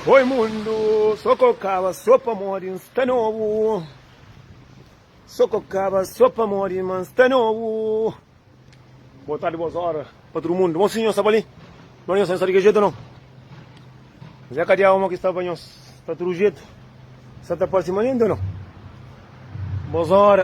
Oi mundu, so ko kaba so pamodi n sta nobu So ko kaba so pamodi ma n sta nobu Boa tardi, boas ora pa tudu mundu Mon sinhor sta pa li? No, nhos ka sta di kel jetu no N dja ka dia omo ki sta pa nhos Sta tudu jetu, sa ta parsi ma lindu no Boas ora.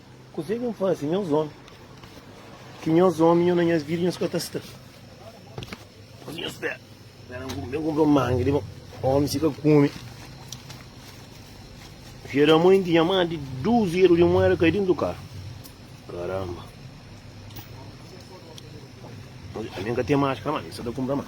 Kuzê ki N faze nhos ómi? Ki nhos ómi, nho na nhas vida, nhos ka ta sta. Ô nhos fé, ben n ben kunpra un manga di ómi si ka kume. Fia da mui N tinha más di dus eru di mueda kai dentu karu. Karanba! Ami N ka ten más, kama ami sa ta kunpra más.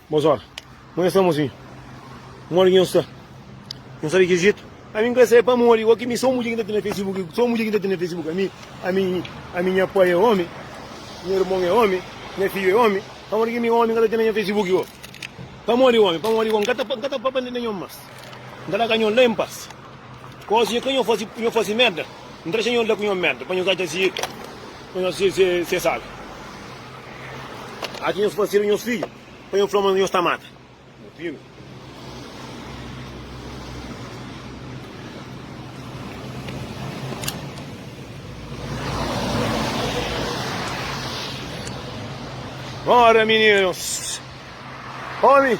Bons ora. Mo nha sta mozinho. Modi ki nho sta? Nho sabe ki jeito? Ami nka sabe pamodi oki mi so mudje ki nta tene facebook so mudje ki nta tene facebook ami ami ami nha pai é omi nha irmon é omi nha fidju é omi pamodi ki mi omi nka ta tene nha facebook o pamodi omi pamodi ko nka ta nka ta papa nde nho mas nka ta ka nho la em pas. Koze ke nho faze, nho faze merda, N ta dexa nho la ku nho merda, pa nho ka dja pa nho ser salvu. Atxa nhos parseru, nhos fidju, pa nho fla ma nhos ta mata. Mutinu. Ora mininus, omi.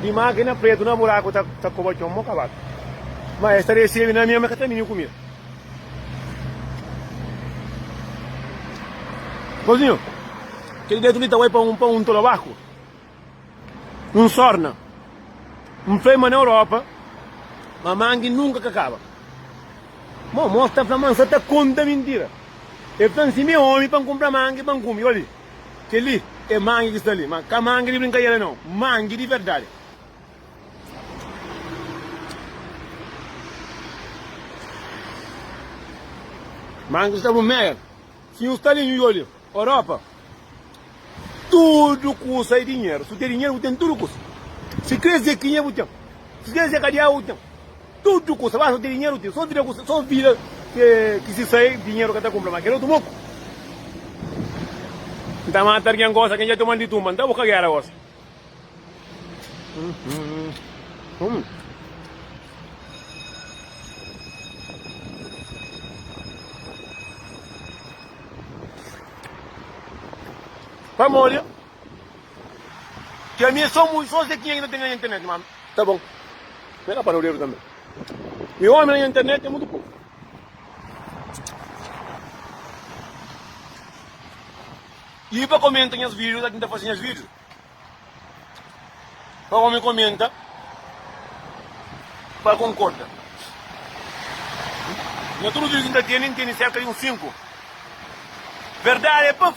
Di mákina pretu na buraku ta koba txon mo kabadu. Ma es ta resebe na mi, ma es ka ta bini ku mi. Kozinho, kel getu li ta bai pa un pa un tolo barku, un sorna. N fla-l ma na Europa ma mangi nunka ka kaba. Mo mos ta fla ma N sa ta konta mintira. El fla-m si mi é ómi pa N kunpra mangi pa N kume. Obi. Kel-li é mangi ki sta li. Má ka mangi di brinkadera, nau. Mangi di verdadi. Mangi sta bu meia. Si nhu sta li, nhu iolia Europa, tudu kusa é dinheru. Si bu ten dinheru, bu ten tudu kusa. Si kre-s dizê ki kinha bu ten. Si kre-s dizê ka di âgua bu ten. Tudu kusa basta ten dinheru ten so vida kusa so vida ki si sai dinheru ka ta kunpra ma kel otu boku N ta mata argen gosa ken dja toma-l di tumba N ta buka gera gosa Pamodi. Ki ami é so mui, so zé ki nha ki na ten na nha internet ma ami. Ta bon, nha ka pa no dedu tanbe. Mi omi na nha internet é mutu poku. I pa komenta nhas video ta tinta fase nhas video pa omi komenta pa konkorda. Na tudu video ki n ta tene, n tene serka di un 5 verdadi é puf.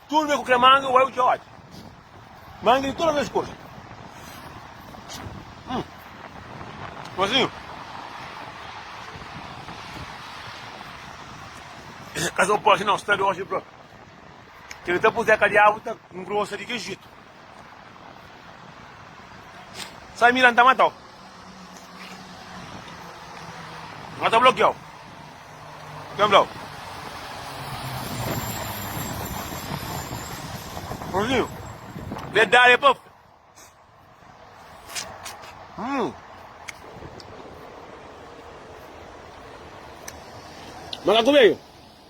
Tudu bem ku kla manga uai u dja odi manga di todas as cor hum mozinho Casou pode não, está de hoje bro. Ele tá por Zé Cadiabo, tá um grosso de Egito. Samira N ta mata-u N ka ta blokia-u Kel fla-u Rozinhu Verdadi é pa fla Hum Makaku Bedju.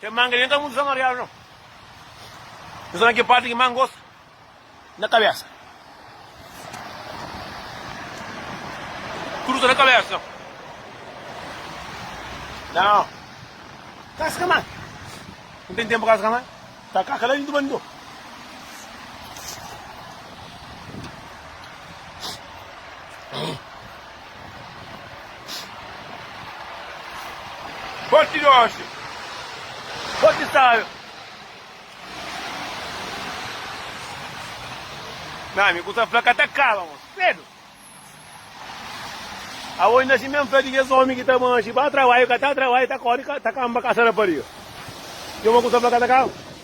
Kel manga li N ka mudu sa mariadu no N sa na kel parti ki ma N gosta na kabesa Kurusa na kabesa no Nao Kaska ma N ten tenpu kaska ma Ta kaka la dintu banido Forti di oxi, forti sábia. Nha ami, ku ta fla ka ta kaba, mosi. Kredo! Aos na Ximé N fla di kes ómi ki ta manxe pa trabalhu, ka ta trabalhu, ta kóre, ta kanba kasa rapariga. Djobe ku ta fla ka ta kaba.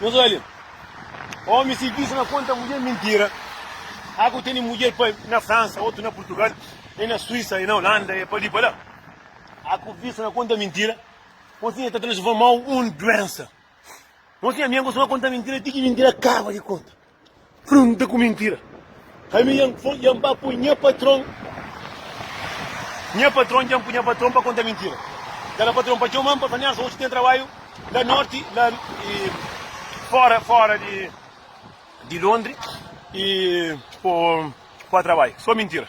Nos olha. Homem se diz na conta mulher mentira. Aku teni mulher pa na França, outro na Portugal, e na Suíça, e na Holanda, e pa ali pa lá. Aku visto na conta mentira. Mocinha tá transformou um doença. Mocinha minha costuma contar mentira, tique mentira acaba de conta. Prunta ku mintira. Ami dja N ba pui nha patron, nha patron dja N pui nha patron pa konta mintira. Kada patron pa txoma-m pa fla-m, Niarson, oji ten trabadju la norti, la fora, fora di Londri, i po ba trabadju. So mintira.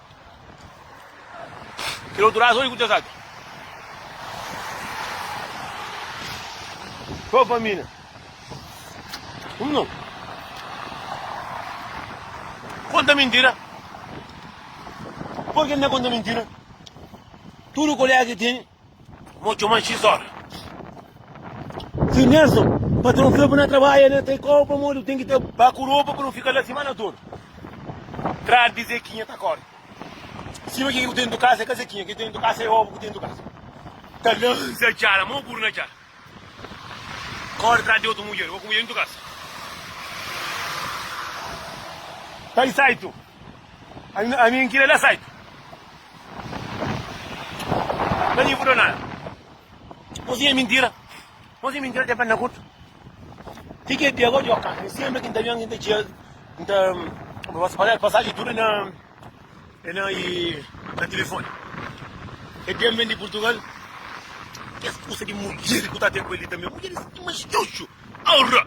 Kel otu raza, oi ku kes atu. Só pa mi, né? Hum, não. Conta mentira. Por que não conta mentira? Tudo colega que tem. Mo txoman xis ora. Sr. Nelson, patron fla pa na trabadja na Taikau pamodi bu ten ki ta ba ku ropa pa nu fika la simana todu. Tra di Zekinha ta kori sima kiki bu ten ntu kasa é kazakinha, kiki bu ten ntu kasa é obu ku ten ntu kasa. Ta lansa txara, mo buru na txara. Kóre tras di otu mudjer, oku mudjer intu kasa. Kai saitu, ami n kira la saitu. Ka nji bu da nada. Bo siña mintira, bo siña mintira ten perna kurtu. Ti ke dia ka odja-u ka, mi siempre ki n ta ben aki n ta txia, n ta, kuma posso falar, pasaji tudu na. É na e na telefone É tem ben di Portugal Kes kusa di mudjer ku ta tem ku el li tanbe Mudjer es ki mas txuxu Aurra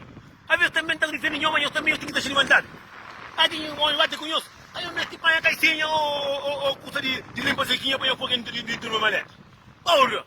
A ves tanbe ta rifendi Nhoma nhos tanbe nhos ten ki ta xini mandadu Agi nhu oi bate ku nhos Ka nhos mesti panha kaisenha o o o kusa di di limpa sekinha pa nhos poi dentru di di turma maleta Aurra.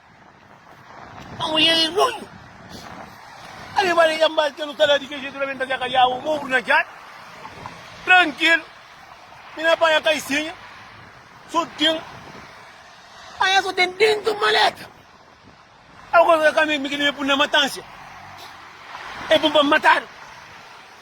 A mulher é nonho. A levá la djá mbal, tê-lo talá di kel jeito, la ben ta djá ka djá-u, mô-u na djá-l. Trankilo, mi na panha kaisinha, so ten, anha so ten dentu maleta. Algos ka ka mi, mi ki debe pun na matánsia, é bom pa matadu.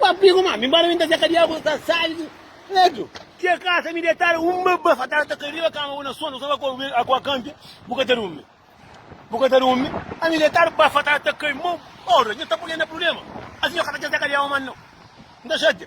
Papi ku mami, nbóra mi n ta txeka di agu, ta sali di letu. Txeka sa mi detadu, un baba fatadu ta kai riba kama bu na sonu, suma ku bu a kanpe, bu ka ta durmi. Bu ka ta durmi. Ami detadu, baba fatadu ta kai, mo, ora, nha ta pui-l na prubléma. Asi nha ka ta txeka di agu más nau. N ta xatia.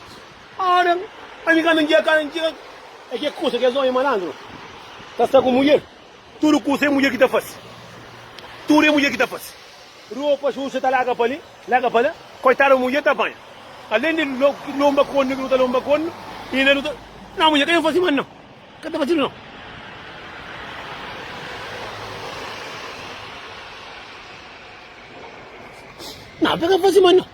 Adam, pa mi ka mi dja ka mi dja é ke kusa kes omi malandru ta sta ku mudjer, tudu kusa é mudjer ki ta fase, tudu é mudjer ki ta fase, ropa xuxa ta laga pa li, laga pa la, koitadu mudjer ta panha, alen di lonba konu ki nu ta lonba konu inda nu ta, na mudjer ka ben fase manu nau, ka ta fase li nau. Na, be ka fase manu nau.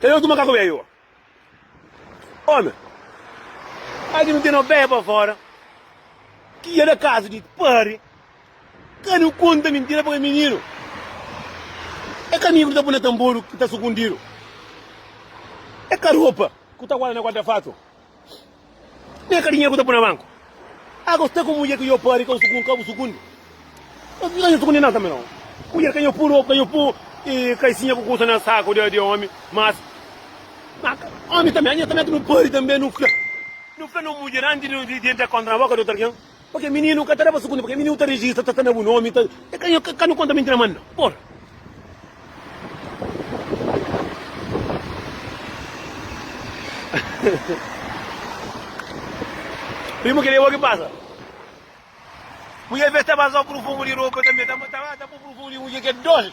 Kal é otu makaku bébi? Ómi, Agi nu ten nos pé pa fóra. Ki el é kazu di padri. Ka nu konta mintira pa kel mininu. É ka migru ta pui na tanboru ki ta sukundidu. É ka ropa ku ta guarda na guarda-fatu. Nha carinha ku ta pui na banku. Agu sta ku mudjer ku nho pari ka bu ka bu sukundi. Ka nho sukundi nada tambi no. Mudjer ka nho pu ropa, ka nho pu kalsinha ku kusa na saku de omi. Mas omi tambi, nha tambi atu no pari tambi no fla. No fla no mudjer anti de entra kontra na boka de otu algen. Pake mininu ka ta da pa sugundu pake mininu ta rejista ta ta na bu nomi ta ka nu konta minti na manda por. Primu kile bo ki pasa. Mulher vez ta ba so prufumu di ropa tambe ta ta bu prufumu di mudjer ke dol.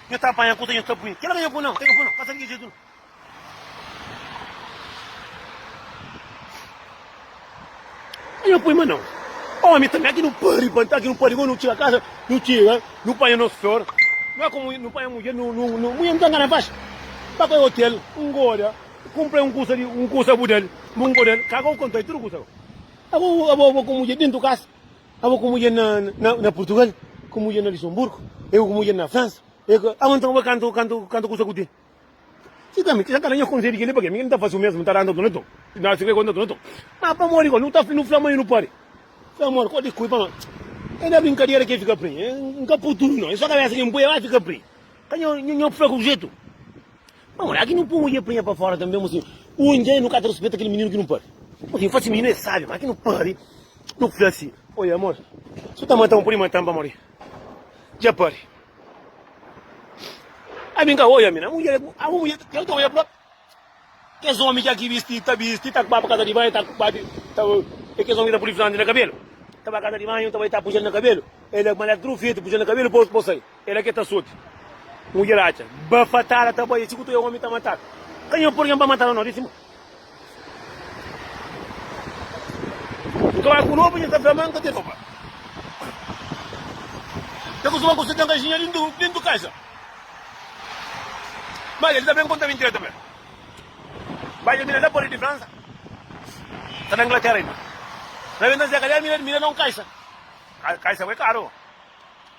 Nho ta apanha kuta nho ta bui. Kela ka nho bu nau, ka nho bu nau, ka ta liga jetu nau. Ka nho pui ma nau. Omi tanbe aki nu pa ribanta, aki nu pa riba, nu txiga kasa, nu txiga, nu panha nos flor. Nu é komu nu panha mudjer, nu, nu, nu, mudjer nu ta ngana pas. Ba pa e hotel, un goda, kumprei un kusa li, un kusa bu del, bu ngoda el, ka ka bu kontai tudu kusa. Agu abo, abo ku mudjer dintu kasa. Abo ku mudjer na Purtugal, ku mudjer na Lisonburgu, e ku mudjer na Fransa. Abo nton abo kantu kantu kusa ku ten. Si ta menti, si ta kala nha konsedju keli, pake mi ki nu ta fasi u mesmu, nu ta randa tuna ton. Na sikrê konta tuna ton. Ma pamodi gó, nu ta nu fla ma e nu pari. Fla amor, kó di kui pa nós. E na brinkadera ke fika prin. N ka pui tudu nau, e so kabesa ki N pui, e ba fika prin. Ka nho fla ku jetu. Má modi aki nu po un i aprinha pa fóra tanbe mô si un dia i nu ka ta ruspeta kel mininu ki nu pari? Modi nu fase mininu é sábi má ki nu pari nu ku fla si, Oi amor, si bu ta mata-m pode mata-m pamodi dja pari. Ami n ka odja mi na mudjer, abo mudjer ta odja el própi. Kes ómi ki aki bisti ta bisti ta ba pa kaza di banhu ta ba di ta é kes ómi ki ta pudi flanti na kabelu ta ba kaza di banhu ta bai ta puxa-l na kabelu el fla ma el é trufetu puxa-l na kabelu pô-s pô-s sai. Ela ke ta sote mudjer atxa ba fatal ata bai é txi ku tu é omi ta matal ka nha purgen pa matal no disi ma N ka bai ku loba nha ta fla ma N ka ten loba ta kustuma ku se ten kajinha dintu dintu kaxa ma el ta ben konta mintira ta fla bai dja mira la pari di Fransa ta na Inglaterra inda na ben ta zia kaliar mira mira na un kaxa kaxa bai karu.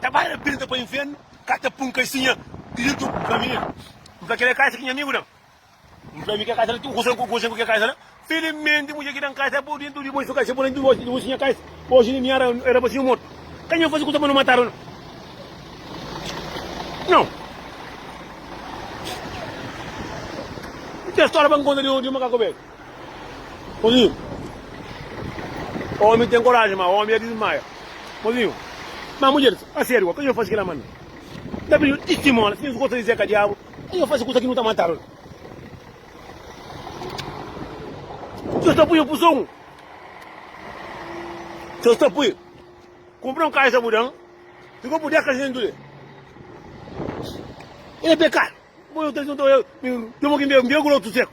Ta bai na pirta pa infernu ka ta pun kaisinha diritu N fla mi N fla kel é kaisa ki nha amigu dan N fla mi kel kaisa la ten kusa N konxe ku kel kaisa la Filimenti mudjer ki dan kaisa bo di N tudu di bo N fika se bo la N divorsia divorsia nha kaisa Oji di miara era pa si N mortu Ka nha fasi kusa pa no matadu no Nau N ten stória pa N konta di un makaku belu. Mozinhu, omi ten koraji, ma omi a dismaia. Mozinhu, ma mudjer, a sériu ka dja fasi kila ma mi ta pidi-u tistimonia, si nhos gosta di Zeka Diabu, ka dja fasi kusa ki nu ta matadu. Nhos ta pui-u puson, nhos ta pui kunpra un kaixa bu da-m, si ku bu dés kaxentu li e pekadu, bo nhos ta djuntau el, mi, djomu ki n bê, n bê grotu seku.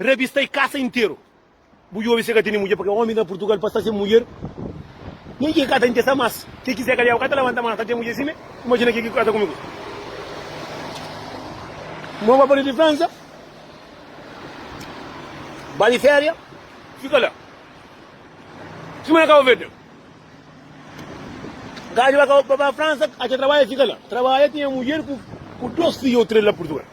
Rabistai kasa interu. Bu djobe se ka tene mudjer purke omis na purtugal pa sta sen mudjer nin ki ka ta intesa mas ke ki seka liau ka ta labanta mas ta ten mudjer sime imajina ke ki kasa kumigu mo ba pali di fransa ba di feria fika la sime na kabo verde gaji ba ba fransa acha trabadja fika la trabadja tinha mudjer ku dos fidje o tres la purtugal.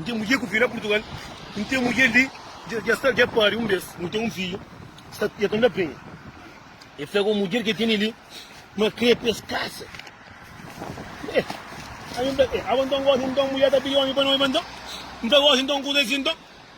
N ten mudjer ku fi na Purtugal N ten mudjer li dja sta dja pari un bes nu ten un fidju sta e ta na penha e fla ku mudjer ke tene li ma kre pa es kasa e ami fla e aba nton gosi nton mudjer ta pidi omi pa noiba nton N ta gosi nton kuza si nton.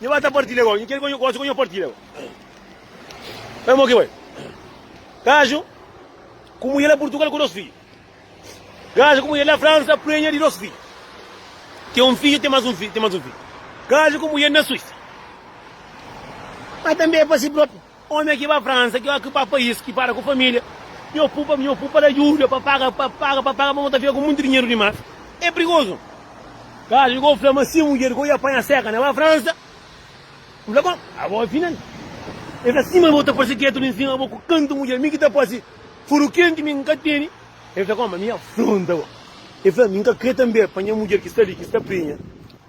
Nhu ba ta partilha gau. Nhu kre ku gosi ku nhu partilha gau. Bai mo ki bai. Gaju ku mudjer la Purtugal ku dos fidju. Gaju ku mudjer la Fransa prenha di dos fidju. Ten un fidju, ten mas un fidju, ten mas un fidju. Gaju ku mudjer na Suisa. Ma tanbe pa si propi. Ome ki ba fransa ki oki ba pais ki para ku familia nho pupa nho pupa la juda pa paga pa paga pa paga pa bo ta fika ku monti dinheru dimas e prigoso kal ki ko fla ma si mudjer ko ia panha seka na ba fransa N fla kon abo e fina e fla si ma bo ta fase ketu li nsima bo ku kantu mudjer mi ki ta fase furu kenti mi N ka teni e fla kon ma mi afronta bo e fla mi N ka kre tanbe pa nha mudjer ki sta li ki sta prenha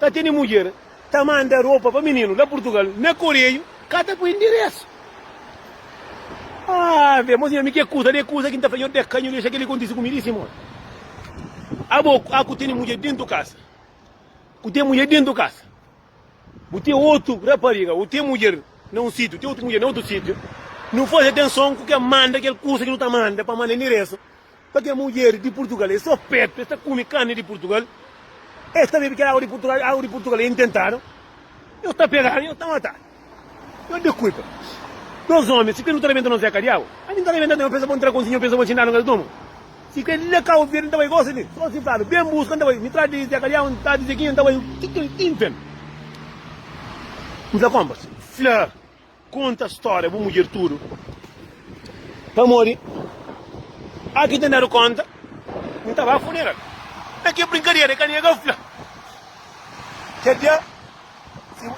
Ka tene mudjer ta manda ropa pa mininu la purtugal na koreiu ka ta poi ndiresu ave mo senhor mi ke kusa de kusa ki nta fla nhor de ka nhu dexa keli kontisi ku mi li simor abo a ku tene mudjer dentu kasa ku ten mudjer dentu kasa bu ten otu rapariga u ten mudjer na un sitiu ten otu mudjer na otu sitiu nu fazi atenson ku ke manda kel kusa ki nu ta manda pa manda ndiresu Pa kes mudjer di Purtugal é so petu, es ta kume karni di Purtugal, es ta bebe kel agu di Purtugal, agu di Purtugal é intentadu. Nhos ta peganu, nhos ta matadu. Nhos dikulpa. Dos omi, si kre nu ta rebenta nos zeka di agu, ami n ta rebenta ten, nhos pensa pa un trakonsin, nhos pensa pa un txindalu nhos duma. Si kre la Kabu Verdi n ta bai gosi li, so si N fladu, ben buska, N ta bai, mi tradu di zeka di agu, N tradu di zekinha, N ta bai, ki kel tinten? N fla konpas, fla. Konta stória bu mudjer tudu pamodi a ki ten dadu konta N ta ba funeral Na kel brinkadera e ka nega N fla Kel dia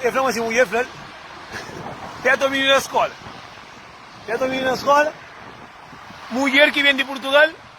e fla-m asin mudjer fla-l Peta un mininu na skola Peta un mininu na skola Mudjer ki ben di purtugal.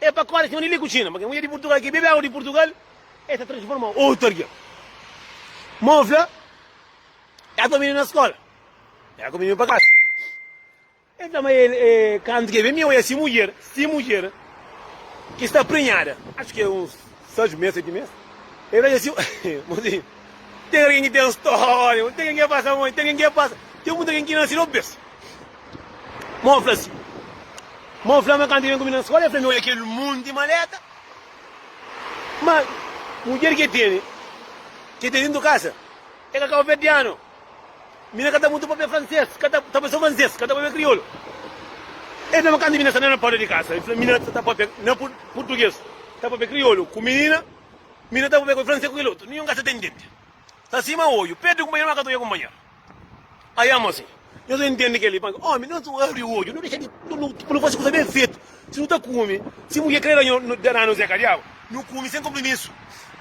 É pa kóde sima di li ku Txina. Ma kel mudjer di Purtugal ki bebe agu di Purtugal, el ta transforma otu algen. Ma N fla, Dja ta bini na skóla. Dja ku bini pa kasa. El fla, Ma el, kantu ki el ben, mi oja si mudjer, si mudjer ki sta prenhada, atxu ki é uns seis mês, seti mês, el fla dja si, Mozinhu, ten algen ki ten stória, ten algen ki é pasa, ten algen ki é pasa, ten mutu algen ki nase na bês. Mon fla si. Mon fla ma kantu i ben ku mi na skola, i fla mi, Oja kel monti maleta. Ma mudjer ki e tene, ki e ten dentu kasa, e ka kabuverdianu. Mi na ka ta mutu papia franses, ka ta ta papia so franses, ka ta papia kriolu. E fla ma kantu mi na sta na porta di kasa, i fla mi na ta papia na pur purtuges, ta papia kriolu ku minina, mi na ta papia ku franses ku kel otu. Ninhun ka sta ta intende. Ta sima oju. Perde kunpanheru, ma ka ta oja kunpanheru. Ai amosi, nhos na intende keli pa nka. Omi, nhos abri odju, nu dexa di pa nu fasi kusa ben fetu. Si nu ta kumi, si mudjer kre dana nos é kadiaba, nu kumi sen konpromisu.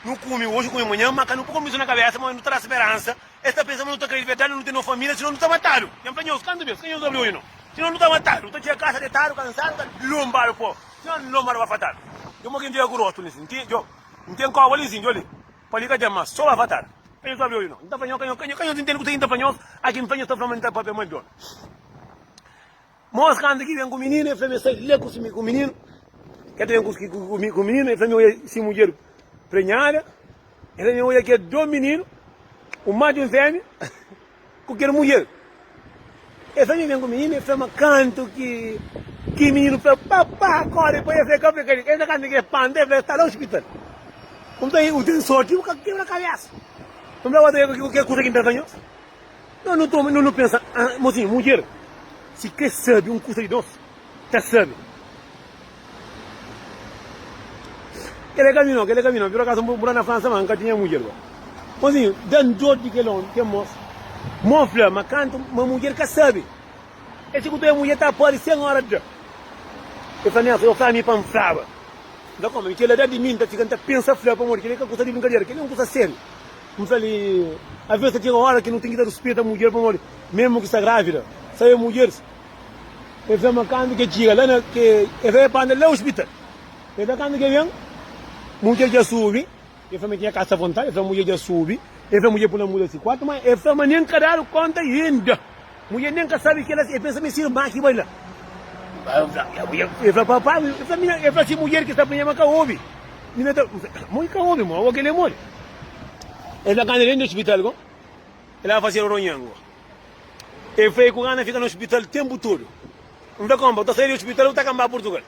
Nu kumi odju, kumi manhan, ma ka nu po konpromisu na kabesa, ma nu ta da speransa. Es ta pensa ma nu ta kre di verdadi, nu ten nos familia, sino nu ta matadu. Nha fla nhos, kantu bes ka nhos abri odju no, sino nu ta matadu. Nu ta txiga kasa detadu, kansadu, ta lonbadu po, sino ta lonbadu pa fatadu. Djo, mo ke N txiga ku rostu li sin, ki djo, N ten koba li sin, djo li. Pa li ka ten mas so avatar. Ka nhos pâpia obi no. N ta fla nhos, ka nhos, ka nhos, ka nhos intende kuzê ki N ta fla nhos? Aki N fla nhos ta fla ma N ta pâpia ma el djona. Mos kanta ki ben ku mininu, el fla ma el sai la ku si ku mininu. Ke ta ben ku ku ku mininu, el fla ma el oja si mudjer prenhada. El fla ma el oja ke do mininu, un madju, un fémia. Ku kel mudjer. Es anjo ben ku mininu e fla ma, Kantu ki ki mininu fla, Papá, kóre pa es, el ka fla kel li. Es na kanta ki el panta, el fla, Es ta la ospital. N fla, Ei, bu ten sórti, bu ka kebra kabésa. N fla, Gosi ki kel kuza ki N ta fla nhos? Nhos nu toma, nhos nu pensa, Mosinhu, mudjer, si krê sabe un kuza di nos. ta sabe. Kele kaminho, kele kaminho. Pur akaso, nbu ra na Fransa, ma nka tinha mudjer ba. Mozinho, da-m dor di kel omi, kel mosu. Mo fla, ma kantu ma mudjer ka sabe, el txikuta e mudjer ta pâdi sen ora da. El fla, Nelson, yo fla mi pa N flaba. Nta koma? Mi kel edad di mi, nta fika, nta pensa fla, pamodi kel-li ka kusa di brinkadera, kel-li é un kusa sériu. N fla-li, Avês ta txega ora ki nu ten ki ta ruspeta mudjer, pamodi, memu ki sta grávida, sabe mudjer. El fla ma kantu ke txiga la na ke el fla pa anda la ospital. El fla kantu ke ben mudjer dja subi, el fla ma tinha kasa vontadi, el fla mudjer dja subi, el fla mudjer pula muda si kuartu ma el fla ma nen ka dadu konta inda. Mudjer nen ka sabi kelas el pensa ma e si irma ki bai la. El fla pa pai, el fla mina, el fla si mudjer ki sta plinha ma ka obi. Mina ta mo i ka obi mo, o kel e modi. El fla kantu el ben di ospital go el a fasi ronhongo. É fei ku Ana fika na ospital ténpu tudu. N fla, Konpa, bu ta sai di ospital ô bu ta kanba Purtugal?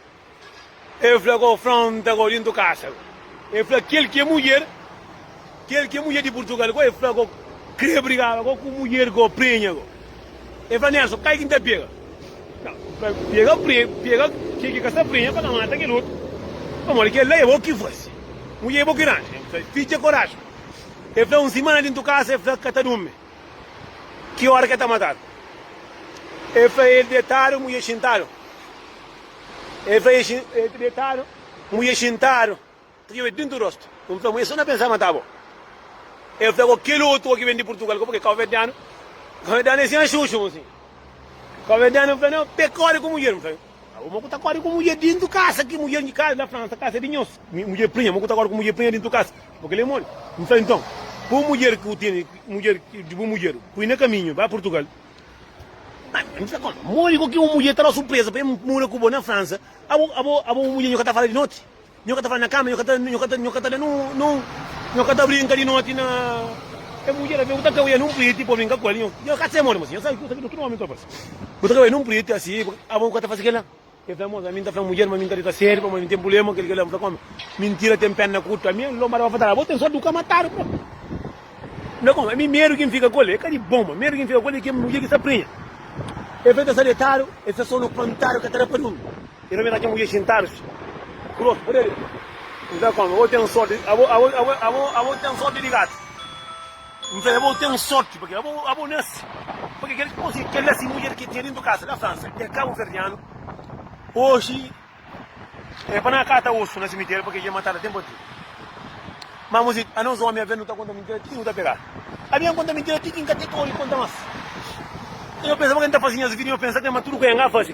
El fla, Konfronta ko dintu kasa ko. El fla, Kel ki é mudjer, kel ki é mudjer di Purtugal ko, el fla ko krê brigaba ko ku mudjer ko prenha ko. El fla, Nelson, kai ki N ta pega? N fla, Pega pre, pega kel ki ka sta prenha pa ka mata kel otu. Pamodi kel la é bo ki fase. Mudjer é bo ki ranja. N fla, Fitxa koraji. El fla, Un simana dintu kasa, el fla, ka ta durmi. Ki óra ki el ta matadu? El fla, El detadu, mudjer xintadu. El fla, El ta detadu, mudjer xintadu. Ta txobeba dintu rostu. N fla, Mudjer, so na pensa mata bo. El fla, Ko kel otu ki ben di Purtugal ka, purki kauverdianu, kauverdianu é sin axuxu, mon sinha. Kauverdianu fla, Nau, pekóde ku mudjer, N fla. Mo ku ta kóre ku mudjer dintu kasa ki mudjer di kasa na Fransa kasa di nhos mudjer prinha mo ku ta kóre ku mudjer prinha dintu kasa mo kel-li é moli N fla inton poi mudjer ki bu tene mudjer di bu mudjer poi na kaminhu ba Purtugal N fla koma modi ku ki un mudjer ta da surpreza pa el muda ku bo na Fransa abo abo abo bu mudjer nho ka ta fala di noti Nho ka ta fla na kama, nho ka ta, nho ka ta, nho ka ta da nun, nun, nho ka ta brinka di noti na. Kel mudjer avê ku ta kawia nun priti pa brinka ku el. Nho, nho ka ta txema-l, mas nho sabe, nho sabe tudu nomi kel parse. Bu ta kawia nun priti asi, bu, abo bu ka ta fase kel-la? El fla, Moza, ami N ta fla mudjer ma mi N ta dita séri pamodi N ten prubléma ku kel-li, kel-la. N fla ku ome, Mintira ten péna kurtu. Ami N lonbada pa fatal, abo ten sórti di bu ka mata-l, bro. N fla ku ome, Ami medu ki N fika ku el é ka di bon, ma medu ki N fika ku el é kel mudjer ki sta prenha. El fla, El ta sta detadu, el sta sonu pantadu, ka ta da pa durmi. E no ben ta txeu mudjer xintadus grosu pode abe kuza ku ami. Abo ten sorti, abo, abo, abo, abo, abo ten sorti di gatu. N fla el, Abo ten sorti pake abo, abo nase pake kel, osi kel la si mudjer ki tinha dintu kasa na Fransa é kabuverdianu, oxi é pa na kata osu na simiteriu pake dja matadu tenpu atrás. Ma mos é, anos omi aven nu ta konta mintira ti ki nu ta pegadu. Ami N konta mintira ti ki N ka ten kórigu di konta mas. Nho pensa pake N ta fasi nhas vida i nho pensa krê ma tudu ku N ka fasi.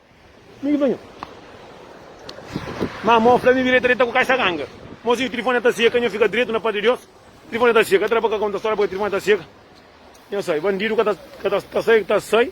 Mi ki ta nha. Má mô fla mi vireta deta ku kaixa ganga. Mozinhu, tilifoni ya ta seka, nha fika dretu na pá di Deus. Tilifoni ya ta seka. Ka tra pa ka konta stória pabia tilifoni ya ta seka. Nha sai. Bandidu ka ta sai, ta sai.